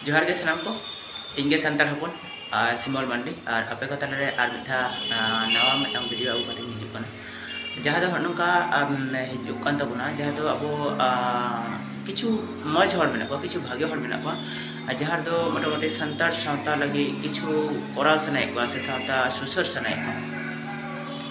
ᱡᱚᱦᱟᱨ ᱜᱮ ᱥᱟᱱᱟᱢ ᱠᱚ ᱤᱧ ᱜᱮ ᱥᱟᱱᱛᱟᱲ ᱦᱚᱯᱚᱱ ᱟᱨ ᱥᱤᱢᱚᱞ ᱢᱟᱱᱰᱤ ᱟᱨ ᱟᱯᱮ ᱠᱚ ᱛᱟᱞᱟ ᱨᱮ ᱟᱨ ᱢᱤᱫ ᱫᱷᱟᱣ ᱱᱟᱣᱟ ᱢᱤᱫᱴᱟᱝ ᱵᱷᱤᱰᱤᱭᱳ ᱟᱹᱜᱩ ᱠᱟᱛᱮᱧ ᱦᱤᱡᱩᱜ ᱠᱟᱱᱟ ᱡᱟᱦᱟᱸ ᱫᱚ ᱱᱚᱝᱠᱟ ᱦᱤᱡᱩᱜ ᱠᱟᱱ ᱛᱟᱵᱚᱱᱟ ᱡᱟᱦᱟᱸ ᱫᱚ ᱟᱵᱚ ᱠᱤᱪᱷᱩ ᱢᱚᱡᱽ ᱦᱚᱲ ᱢᱮᱱᱟᱜ ᱠᱚᱣᱟ ᱠᱤᱪᱷᱩ ᱵᱷᱟᱜᱮ ᱦᱚᱲ ᱢᱮᱱᱟᱜ ᱠᱚᱣᱟ ᱡᱟᱦᱟᱸ ᱫᱚ ᱢᱚᱴᱟᱢᱩᱴᱤ ᱥᱟᱱᱛᱟᱲ ᱥᱟᱶᱛᱟ ᱞᱟᱹᱜᱤᱫ ᱠᱤᱪᱷᱩ ᱠᱚᱨᱟᱣ ᱥᱟᱱᱟᱭᱮᱫ ᱠᱚᱣᱟ ᱥᱮ ᱥᱟᱶᱛᱟ ᱥᱩᱥᱟᱹᱨ ᱥᱟᱱᱟᱭᱮᱫ ᱠᱚᱣᱟ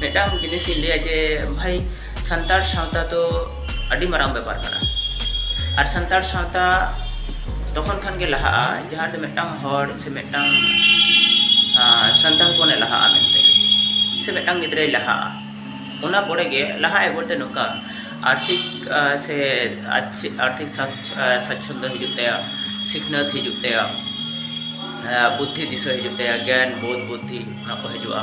ᱢᱤᱫᱴᱟᱝ ᱡᱤᱱᱤᱥ ᱤᱧ ᱞᱟᱹᱭᱟ ᱡᱮ ᱵᱷᱟᱭ ᱥᱟᱱᱛᱟᱲ ᱥᱟᱶᱛᱟ ᱫᱚ ᱟᱹᱰᱤ ᱢᱟᱨᱟᱝ ᱵᱮᱯᱟᱨ ᱠᱟᱱᱟ ᱟᱨ ᱥᱟᱱᱛᱟᱲ ᱥᱟᱶᱛᱟ ᱛᱚᱠᱷᱚᱱ ᱠᱷᱟᱱ ᱜᱮ ᱞᱟᱦᱟᱜᱼᱟ ᱡᱟᱦᱟᱸ ᱫᱚ ᱢᱤᱫᱴᱟᱝ ᱦᱚᱲ ᱥᱮ ᱢᱤᱫᱴᱟᱝ ᱥᱟᱱᱛᱟᱲ ᱦᱚᱯᱚᱱᱮ ᱞᱟᱦᱟᱜᱼᱟ ᱢᱮᱱᱛᱮ ᱥᱮ ᱢᱤᱫᱴᱟᱝ ᱜᱤᱫᱽᱨᱟᱹᱭ ᱞᱟᱦᱟᱜᱼᱟ ᱚᱱᱟ ᱯᱚᱨᱮ ᱜᱮ ᱞᱟᱦᱟᱜ ᱟᱭ ᱵᱚᱞᱛᱮ ᱱᱚᱝᱠᱟ ᱟᱨᱛᱷᱤᱠ ᱥᱮ ᱟᱨᱛᱷᱤᱠ ᱥᱟᱪᱪᱷᱚᱱᱫᱚ ᱦᱤᱡᱩᱜ ᱛᱟᱭᱟ ᱥᱤᱠᱷᱱᱟᱹᱛ ᱦᱤᱡᱩᱜ ᱛᱟᱭᱟ ᱵᱩᱫᱽᱫᱷᱤ ᱫᱤᱥᱟᱹ ᱦᱤᱡᱩᱜ ᱛᱟᱭᱟ ᱜᱮᱭᱟᱱ ᱵᱳᱫᱷ ᱵᱩᱫᱽᱫᱷᱤ ᱚᱱᱟ ᱠᱚ ᱦᱤᱡᱩᱜᱼᱟ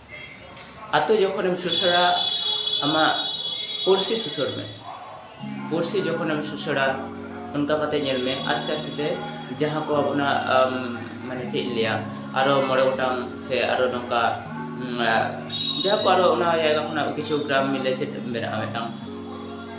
ᱟᱛᱳ ᱡᱚᱠᱷᱚᱱᱮᱢ ᱥᱩᱥᱟᱹᱨᱟ ᱟᱢᱟᱜ ᱯᱩᱲᱥᱤ ᱥᱩᱥᱟᱹᱨ ᱢᱮ ᱯᱩᱲᱥᱤ ᱡᱚᱠᱷᱚᱱᱮᱢ ᱥᱩᱥᱟᱹᱨᱟ ᱚᱱᱠᱟ ᱠᱟᱛᱮ ᱧᱮᱞ ᱢᱮ ᱟᱥᱛᱮ ᱟᱥᱛᱮ ᱛᱮ ᱡᱟᱦᱟᱸ ᱠᱚ ᱟᱵᱚᱱᱟᱜ ᱢᱟᱱᱮ ᱪᱮᱫ ᱤᱧ ᱞᱟᱹᱭᱟ ᱟᱨᱚ ᱢᱚᱬᱮ ᱜᱚᱴᱟᱝ ᱥᱮ ᱟᱨᱚ ᱱᱚᱝᱠᱟ ᱡᱟᱦᱟᱸ ᱠᱚ ᱟᱨᱚ ᱚᱱᱟ ᱡᱟᱭᱜᱟ ᱠᱷᱚᱱᱟᱜ ᱠᱤᱪᱷᱩ ᱜᱨᱟᱢ ᱢᱤᱞᱮ ᱪᱮᱫ ᱢᱮᱱᱟᱜᱼᱟ ᱢᱤᱫᱴᱟᱝ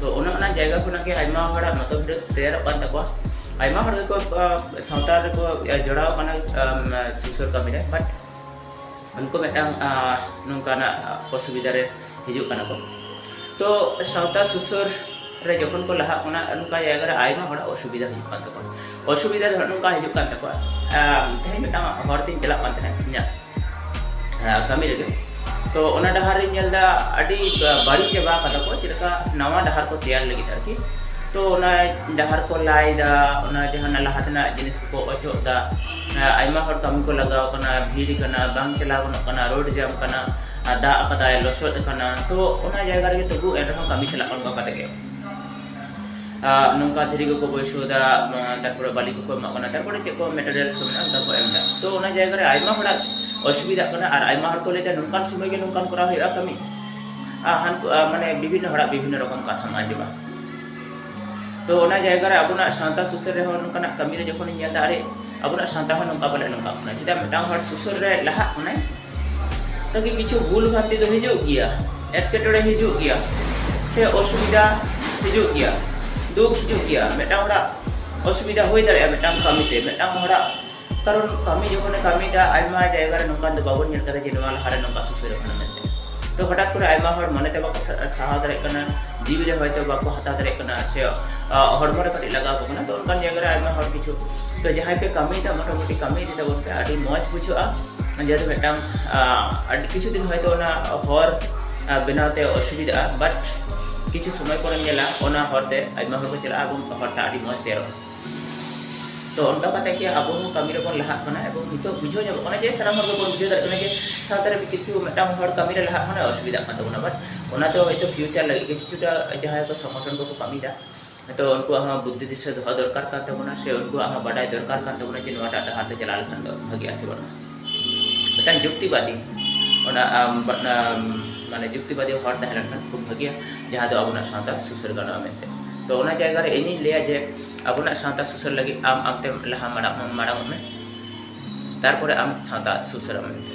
ᱛᱚ ᱚᱱᱟ ᱚᱱᱟ ᱡᱟᱭᱜᱟ ᱠᱷᱚᱱᱟᱜ ᱜᱮ ᱟᱭᱢᱟ ᱦᱚᱲᱟᱜ ᱢᱚᱛᱚ ᱵᱷᱤᱰᱤᱭᱳ ᱛᱮᱭᱟᱨᱚᱜ ᱠᱟᱱ ᱛᱟᱠᱚᱣᱟ ᱟᱭᱢᱟ ᱦᱚᱲ ᱜᱮᱠᱚ ᱥᱟᱶᱛᱟ ᱨᱮᱠᱚ ᱡᱚᱲᱟᱣ ᱠᱟᱱᱟ ᱥᱩᱥᱟᱹᱨ ᱠᱟᱹᱢᱤ ᱨᱮ ᱵᱟᱴ ᱩᱱᱠᱩ ᱢᱤᱫᱴᱟᱝ ᱱᱚᱝᱠᱟᱱᱟᱜ ᱚᱥᱩᱵᱤᱫᱷᱟ ᱨᱮ ᱦᱤᱡᱩᱜ ᱠᱟᱱᱟ ᱠᱚ ᱛᱚ ᱥᱟᱶᱛᱟ ᱥᱩᱥᱟᱹᱨ ᱨᱮ ᱡᱚᱠᱷᱚᱱ ᱠᱚ ᱞᱟᱦᱟᱜ ᱠᱟᱱᱟ ᱚᱱᱠᱟ ᱡᱟᱭᱜᱟ ᱨᱮ ᱟᱭᱢᱟ ᱦᱚᱲᱟᱜ ᱚᱥᱩᱵᱤᱫᱷᱟ ᱦᱩᱭᱩᱜ ᱠᱟᱱ ᱛᱟᱠᱚᱣᱟ ᱚᱥᱩᱵᱤᱫᱷᱟ ᱫᱚ ᱱᱚᱝᱠᱟ ᱦᱤᱡᱩᱜ ᱠᱟᱱ ᱛᱟᱠᱚᱣᱟ ᱛᱮᱦᱮᱧ ᱢᱤᱫᱴᱟᱝ ᱦᱚᱲ ᱛᱤᱧ ᱪᱟᱞᱟᱜ ᱠᱟᱱ ᱛᱟᱦᱮᱸᱫ ᱤᱧᱟᱹᱜ ᱠᱟᱹᱢᱤ ᱨᱮᱜᱮ ᱛᱚ ᱚᱱᱟ ᱰᱟᱦᱟᱨ ᱨᱤᱧ ᱧᱮᱞ ᱮᱫᱟ ᱟᱹᱰᱤ ᱵᱟᱹᱲᱤᱡ ᱪᱟᱵᱟ ᱠᱟᱫᱟ ᱠᱚ ᱪᱮᱫ ᱞᱮᱠᱟ ᱱᱟᱣᱟ ᱰᱟᱦᱟᱨ ᱠᱚ ᱛᱮᱭᱟᱨ ᱞᱟᱹᱜᱤᱫ ᱟᱨᱠᱤ ᱛᱚ ᱚᱱᱟ ᱰᱟᱦᱟᱨ ᱠᱚ ᱞᱟᱭᱫᱟ ᱚᱱᱟ ᱡᱟᱦᱟᱱᱟᱜ ᱞᱟᱦᱟ ᱛᱮᱱᱟᱜ ᱡᱤᱱᱤᱥ ᱠᱚᱠᱚ ᱚᱪᱚᱜ ᱮᱫᱟ ᱟᱭᱢᱟ ᱦᱚᱲ ᱠᱟᱹᱢᱤ ᱠᱚ ᱞᱟᱜᱟᱣ ᱠᱟᱱᱟ ᱵᱷᱤᱲ ᱠᱟᱱᱟ ᱵᱟᱝ ᱪᱟᱞᱟᱣ ᱜᱟᱱᱚᱜ ᱠᱟᱱᱟ ᱨᱳᱰ ᱡᱟᱢ ᱠᱟᱱᱟ ᱫᱟᱜ ᱠᱟᱫᱟᱭ ᱞᱚᱥᱚᱫ ᱠᱟᱱᱟ ᱛᱚ ᱚᱱᱟ ᱡᱟᱭᱜᱟ ᱨᱮᱜᱮ ᱛᱚᱵᱩ ᱮᱱᱨᱮᱦᱚᱸ ᱠᱟᱹᱢᱤ ᱪᱟᱞᱟᱜ ᱠᱟᱱᱟ ᱚᱱᱠᱟ ᱠᱟᱛᱮ ᱜᱮ ᱱᱚᱝᱠᱟ ᱫᱷᱤᱨᱤ ᱠᱚᱠᱚ ᱵᱟᱹᱭᱥᱟᱹᱣᱫᱟ ᱛᱟᱨᱯᱚᱨᱮ ᱵᱟᱞᱤ ᱠᱚᱠᱚ ᱮᱢᱟᱜ ᱠᱟᱱᱟ ᱛᱟᱨᱯᱚᱨᱮ ᱪᱮᱫ ᱠᱚ ᱢᱮᱴᱮᱨᱤᱭᱟᱞᱥ ᱠᱚ ᱢᱮᱱᱟᱜᱼᱟ ᱚᱱᱠᱟ ᱠᱚ ᱮᱢᱫᱟ ᱛᱚ ᱚᱱᱟ ᱡᱟᱭᱜᱟ ᱨᱮ ᱟᱭᱢᱟ ᱦᱚᱲᱟᱜ ᱚᱥᱩᱵᱤᱫᱷᱟᱜ ᱠᱟᱱᱟ ᱟᱨ ᱟᱭᱢᱟ ᱦᱚᱲ ᱠᱚ ᱞᱟᱹᱭᱫᱟ ᱱᱚᱝᱠᱟᱱ ᱥᱚᱢᱚᱭ ᱜᱮ ᱱᱚᱝᱠᱟᱱ ᱠᱚᱨᱟᱣ ᱦᱩᱭᱩᱜᱼᱟ ᱠᱟᱹᱢᱤ ᱢᱟᱱᱮ ᱵᱤᱵᱷᱤᱱᱱᱚ ᱦᱚᱲᱟᱜ ᱵᱤᱵᱷᱤᱱᱱᱚ ᱨᱚᱠᱚᱢ ᱠᱟᱛᱷᱟᱢ ᱟᱸᱡᱚᱢᱟ ᱛᱚ ᱚᱱᱟ ᱡᱟᱭᱜᱟ ᱨᱮ ᱟᱵᱚᱱᱟᱜ ᱥᱟᱶᱛᱟ ᱥᱩᱥᱟᱹᱨ ᱨᱮᱦᱚᱸ ᱱᱚᱝᱠᱟᱱᱟᱜ ᱠᱟᱹᱢᱤ ᱨᱮ ᱡᱚᱠᱷᱚᱱᱤᱧ ᱧᱮᱞᱫᱟ ᱟᱨᱮ ᱟᱵᱚᱱᱟᱜ ᱥᱟᱶᱛᱟ ᱦᱚᱸ ᱱᱚᱝᱠᱟ ᱯᱟᱞᱮ ᱱᱚᱝᱠᱟᱜ ᱠᱟᱱᱟ ᱪᱮᱫᱟᱜ ᱢᱤᱫᱴᱟᱝ ᱦᱚᱲ ᱥᱩᱥᱟᱹᱨ ᱨᱮ ᱞᱟᱦᱟᱜ ᱠᱟᱱᱟᱭ ᱛᱟᱠᱤ ᱠᱤᱪᱷᱩ ᱵᱷᱩᱞ ᱵᱷᱟᱱᱛᱤ ᱫᱚ ᱦᱤᱡᱩᱜ ᱜᱮᱭᱟ ᱮᱴᱠᱮᱴᱚᱬᱮ ᱦᱤᱡᱩᱜ ᱜᱮᱭᱟ ᱥᱮ ᱚᱥᱩᱵᱤᱫᱟ ᱦᱤᱡᱩᱜ ᱜᱮᱭᱟ ᱫᱩᱠ ᱦᱤᱡᱩᱜ ᱜᱮᱭᱟ ᱢᱤᱫᱴᱟᱝ ᱦᱚᱲᱟᱜ ᱚᱥᱩᱵᱤᱫᱟ ᱦᱩᱭ ᱫᱟᱲᱮᱭᱟᱜᱼᱟ ᱢᱤᱫᱴᱟᱝ ᱠᱟᱹᱢᱤ ᱛᱮ ᱢᱤᱫᱴᱟᱝ ᱦᱚᱲᱟᱜ ᱠᱟᱨᱚᱱ ᱠᱟᱹᱢᱤ ᱡᱚᱠᱷᱚᱱᱮ ᱠᱟᱹᱢᱤᱭᱮᱫᱟ ᱟᱭᱢᱟ ᱡᱟᱭᱜᱟ ᱨᱮ ᱱᱚᱝᱠᱟᱱ ᱫᱚ ᱵᱟᱵᱚᱱ ᱧᱮᱞ ᱠᱟᱫᱟ ᱡᱮ ᱱᱚᱣᱟ ᱞᱟᱦᱟ ᱨᱮ ᱱᱚᱝᱠᱟ ᱥᱩᱥᱟᱹᱨ ᱟᱠᱟᱱᱟ ᱢᱮᱱᱛᱮ ᱛᱚ ᱦᱚᱴᱟᱛ ᱠᱚᱨᱮ ᱟᱭᱢᱟ ᱦᱚᱲ ᱢᱚᱱᱮ ᱛᱮ ᱵᱟᱠᱚ ᱥᱟᱦᱟᱣ ᱫᱟᱲᱮᱭᱟᱜ ᱠᱟᱱᱟ ᱡᱤᱣᱤ ᱨᱮ ᱦᱚᱭᱛᱚ ᱵᱟᱠᱚ ᱦᱟᱛᱟᱣ ᱫᱟᱲᱮᱭᱟᱜ ᱠᱟᱱᱟ ᱥᱮ ᱦᱚᱲᱢᱚ ᱨᱮ ᱠᱟᱹᱴᱤᱡ ᱞᱟᱜᱟᱣ ᱠᱟᱱᱟ ᱛᱚ ᱚᱱᱠᱟᱱ ᱡᱟᱭᱜᱟ ᱨᱮ ᱟᱭᱢᱟ ᱦᱚᱲ ᱠᱤᱪᱷᱩ ᱛᱚ ᱡᱟᱦᱟᱸᱭ ᱯᱮ ᱠᱟᱹᱢᱤᱭᱮᱫᱟ ᱢᱚᱴᱟᱢᱩᱴᱤ ᱠᱟᱹᱢᱤ ᱤᱫᱤ ᱛᱟᱵᱚᱱ ᱯᱮ ᱟᱹᱰᱤ ᱢᱚᱡᱽ ᱵᱩᱡᱷᱟᱹᱜᱼᱟ ᱡᱮᱦᱮᱛᱩ ᱢᱤᱫᱴᱟᱝ ᱟᱹᱰᱤ ᱠᱤᱪᱷᱩ ᱫᱤᱱ ᱦᱚᱭᱛᱳ ᱚᱱᱟ ᱦᱚᱨ ᱵᱮᱱᱟᱣ ᱛᱮ ᱚᱥᱩᱵᱤᱫᱷᱟᱜᱼᱟ ᱵᱟᱴ ᱠᱤᱪᱷᱩ ᱥᱚᱢᱚᱭ ᱯᱚᱨᱮᱢ ᱧᱮᱞᱟ ᱚᱱᱟ ᱦᱚᱨ ᱛᱮ ᱟᱭᱢᱟ ᱦᱚᱲ ᱠᱚ ᱪᱟᱞᱟᱜᱼᱟ ᱮᱵᱚᱝ ᱦᱚᱨᱴᱟᱜ ᱟᱹᱰᱤ ᱢᱚᱡᱽ ᱛᱮᱭᱟᱨᱚᱜᱼᱟ ᱛᱚ ᱚᱱᱠᱟ ᱠᱟᱛᱮ ᱜᱮ ᱟᱵᱚ ᱦᱚᱸ ᱠᱟᱹᱢᱤ ᱨᱮᱵᱚᱱ ᱞᱟᱦᱟᱜ ᱠᱟᱱᱟ ᱮᱵᱚᱝ ᱱᱤᱛᱚᱜ ᱵᱩᱡᱷᱟᱹᱣ ᱧᱟᱢᱚᱜ ᱠᱟᱱᱟ ᱡᱮ ᱥᱟᱱᱟᱢ ᱦᱚᱲ ᱜᱮᱵᱚᱱ ᱵᱩᱡᱷᱟᱹᱣ ᱫᱟᱲᱮᱭᱟᱜ ᱠᱟᱱᱟ ᱡᱮ ᱥᱟᱶᱛᱟ ᱨᱮ ᱠᱤᱪᱷᱩ ᱢᱤᱫᱴᱟᱝ ᱦᱚᱲ ᱠᱟᱹᱢᱤ ᱨᱮ ᱞᱟᱦᱟᱜ ᱢᱟᱱᱮ ᱚᱥᱩᱵᱤᱫᱷᱟᱜ ᱠᱟᱱ ᱛᱟᱵᱚᱱᱟ ᱵᱟᱴ ᱚᱱᱟ ᱫᱚ ᱦᱚᱭᱛᱳ ᱯᱷᱤᱭᱩᱪᱟᱨ ᱞᱟᱹᱜᱤᱫ ᱜᱮ ᱠᱤᱪᱷᱩᱴᱟ ᱡᱟᱦᱟᱸᱭ ᱠᱚ ᱥᱚᱝᱜᱚᱴᱷᱚᱱ ᱠᱚᱠᱚ ᱠᱟᱹᱢᱤᱭᱮᱫᱟ ᱛᱚ ᱩᱱᱠᱩᱣᱟᱜ ᱦᱚᱸ ᱵᱩᱫᱽᱫᱷᱤ ᱫᱤᱥᱟᱹ ᱫᱚᱦᱚ ᱫᱚᱨᱠᱟᱨ ᱠᱟᱱ ᱛᱟᱵᱚᱱᱟ ᱥᱮ ᱩᱱᱠᱩᱣᱟᱜ ᱦᱚᱸ ᱵᱟᱰᱟᱭ ᱫᱚᱨᱠᱟᱨ ᱠᱟᱱ ᱛᱟᱵᱚᱱᱟ ᱡᱮ ᱱᱚᱣᱟᱴᱟᱜ ᱰᱟᱦᱟᱨ ᱛᱮ ᱪᱟᱞᱟᱣ ᱞᱮᱠᱷᱟᱱ ᱫᱚ ᱵᱷᱟᱹᱜᱤᱜᱼᱟ ᱥᱮ ᱵᱟᱹᱱᱩᱜᱼᱟ ᱢᱤᱫᱴᱟᱝ ᱡᱩᱠᱛᱤᱵᱟᱫᱤ ᱚᱱᱟ ᱢᱟᱱᱮ ᱡᱩᱠᱛᱤᱵᱟᱫᱤ ᱦᱚᱲ ᱛᱟᱦᱮᱸ ᱞᱮᱱᱠᱷᱟᱱ ᱠᱷᱩᱵ ᱵᱷᱟᱹᱜᱤᱭᱟ ᱡᱟᱦᱟᱸ ᱫᱚ ᱟᱵᱚᱱᱟᱜ ᱥᱟᱶᱛᱟ ᱥᱩᱥᱟᱹᱨ ᱜᱟᱱᱚᱜᱼᱟ ᱢᱮᱱᱛᱮ ᱛᱚ ᱚᱱᱟ ᱡᱟᱭᱜᱟ ᱨᱮ ᱤᱧᱤᱧ ᱞᱟᱹᱭᱟ ᱡᱮ ᱟᱵᱚᱱᱟᱜ ᱥᱟᱶᱛᱟ ᱥᱩᱥᱟᱹᱨ ᱞᱟᱹᱜᱤᱫ ᱟᱢ ᱟᱢᱛᱮ ᱞᱟᱦᱟ ᱢᱟᱲᱟᱝ ᱢᱟᱲᱟᱝᱚᱜ ᱢᱮ ᱛᱟᱨᱯᱚᱨᱮ ᱟᱢ ᱥᱟᱶᱛᱟ ᱥᱩᱥᱟᱹᱨᱟᱢ ᱢᱮᱱᱛᱮ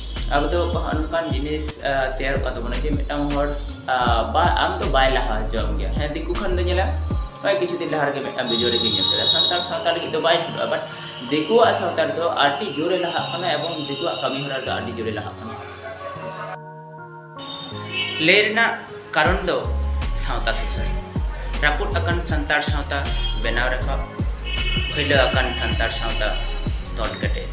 ᱟᱵᱚ ᱫᱚ ᱦᱚᱸᱜᱼᱚ ᱱᱚᱝᱠᱟᱱ ᱡᱤᱱᱤᱥ ᱛᱮᱭᱟᱨᱚᱜ ᱠᱟᱱ ᱛᱟᱵᱚᱱᱟ ᱡᱮ ᱢᱤᱫᱴᱟᱝ ᱦᱚᱲ ᱵᱟ ᱟᱢ ᱫᱚ ᱵᱟᱭ ᱞᱟᱦᱟ ᱦᱚᱪᱚᱣᱟᱢ ᱜᱮᱭᱟ ᱦᱮᱸ ᱫᱤᱠᱩ ᱠᱷᱟᱱ ᱫᱚ ᱧᱮᱞᱟ ᱱᱚᱜᱼᱚᱭ ᱠᱤᱪᱷᱩ ᱫᱤᱱ ᱞᱟᱦᱟ ᱨᱮᱜᱮ ᱢᱤᱫᱴᱟᱝ ᱵᱷᱤᱰᱤᱭᱳ ᱨᱮᱜᱮ ᱧᱮᱞ ᱠᱮᱫᱟ ᱥᱟᱱᱛᱟᱲ ᱥᱟᱶᱛᱟ ᱞᱟᱹᱜᱤᱫ ᱫᱚ ᱵᱟᱭ ᱥᱩᱨᱩᱜᱼᱟ ᱵᱟᱴ ᱫᱤᱠᱩᱣᱟᱜ ᱥᱟᱶᱛᱟ ᱨᱮᱫᱚ ᱟᱹᱰᱤ ᱡᱳᱨᱮ ᱞᱟᱦᱟᱜ ᱠᱟᱱᱟ ᱮᱵᱚᱝ ᱫᱤᱠᱩᱣᱟᱜ ᱠᱟᱹᱢᱤ ᱦᱚᱨᱟ ᱨᱮᱫᱚ ᱟᱹᱰᱤ ᱡᱳᱨᱮ ᱞᱟᱦᱟᱜ ᱠᱟᱱᱟ ᱞᱟᱹᱭ ᱨᱮᱱᱟᱜ ᱠᱟᱨᱚᱱ ᱫᱚ ᱥᱟᱶᱛᱟ ᱥᱩᱥᱟᱹᱨ ᱨᱟᱹᱯᱩᱫ ᱟᱠᱟᱱ ᱥᱟᱱᱛᱟᱲ ᱥᱟᱶᱛᱟ ᱵᱮᱱᱟᱣ ᱨᱟᱠᱟᱵ ᱯᱷᱟᱹᱭᱞᱟᱹ ᱟᱠᱟᱱ ᱥᱟᱱᱛᱟᱲ ᱥᱟᱶᱛᱟ ᱛᱚᱞ ᱠᱮᱴᱮᱡ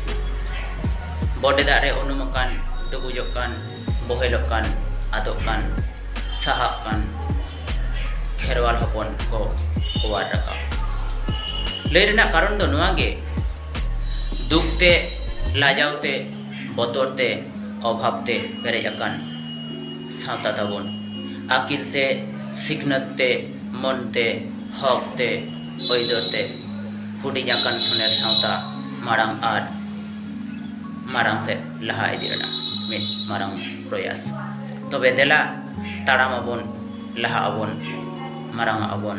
ᱵᱚᱰᱮ ᱫᱟᱜ ᱨᱮ ᱩᱱᱩᱢ ᱟᱠᱟᱱ ᱰᱩᱵᱩᱡᱚᱜ ᱠᱟᱱ ᱵᱚᱦᱮᱞᱚᱜ ᱠᱟᱱ ᱟᱫᱚᱜ ᱠᱟᱱ ᱥᱟᱦᱟᱜ ᱠᱟᱱ ᱠᱷᱮᱨᱣᱟᱞ ᱦᱚᱯᱚᱱ ᱠᱚ ᱚᱣᱟᱨ ᱨᱟᱠᱟᱵ ᱞᱟᱹᱭ ᱨᱮᱱᱟᱜ ᱠᱟᱨᱚᱱ ᱫᱚ ᱱᱚᱣᱟ ᱜᱮ ᱫᱩᱠ ᱛᱮ ᱞᱟᱡᱟᱣ ᱛᱮ ᱵᱚᱛᱚᱨ ᱛᱮ ᱚᱵᱷᱟᱵᱽ ᱛᱮ ᱯᱮᱨᱮᱡ ᱟᱠᱟᱱ ᱥᱟᱶᱛᱟ ᱛᱟᱵᱚᱱ᱾ ᱟᱹᱠᱤᱞ ᱛᱮ, ᱥᱤᱠᱷᱱᱟᱹᱛ ᱛᱮ, ᱢᱟᱹᱱ ᱛᱮ, ᱦᱚᱠ ᱛᱮ, ᱟᱹᱭᱫᱟᱹᱨ ᱛᱮ ᱦᱩᱰᱤᱧ ᱟᱠᱟᱱ ᱥᱚᱱᱮᱨ ᱥᱟᱶᱛᱟ ᱢᱟᱲᱟᱝ ᱟᱨ ᱢᱟᱨᱟᱝ ᱥᱮᱫ ᱞᱟᱦᱟ ᱤᱫᱤ ᱨᱮᱱᱟᱜ ᱢᱤᱫ ᱢᱟᱨᱟᱝ ᱯᱨᱚᱭᱟᱥ᱾ ᱛᱚᱵᱮ ᱫᱮᱞᱟ ᱛᱟᱲᱟᱢ ᱟᱵᱚᱱ, ᱞᱟᱦᱟᱜ ᱟᱵᱚᱱ, ᱢᱟᱨᱟᱝᱚᱜ ᱟᱵᱚᱱ᱾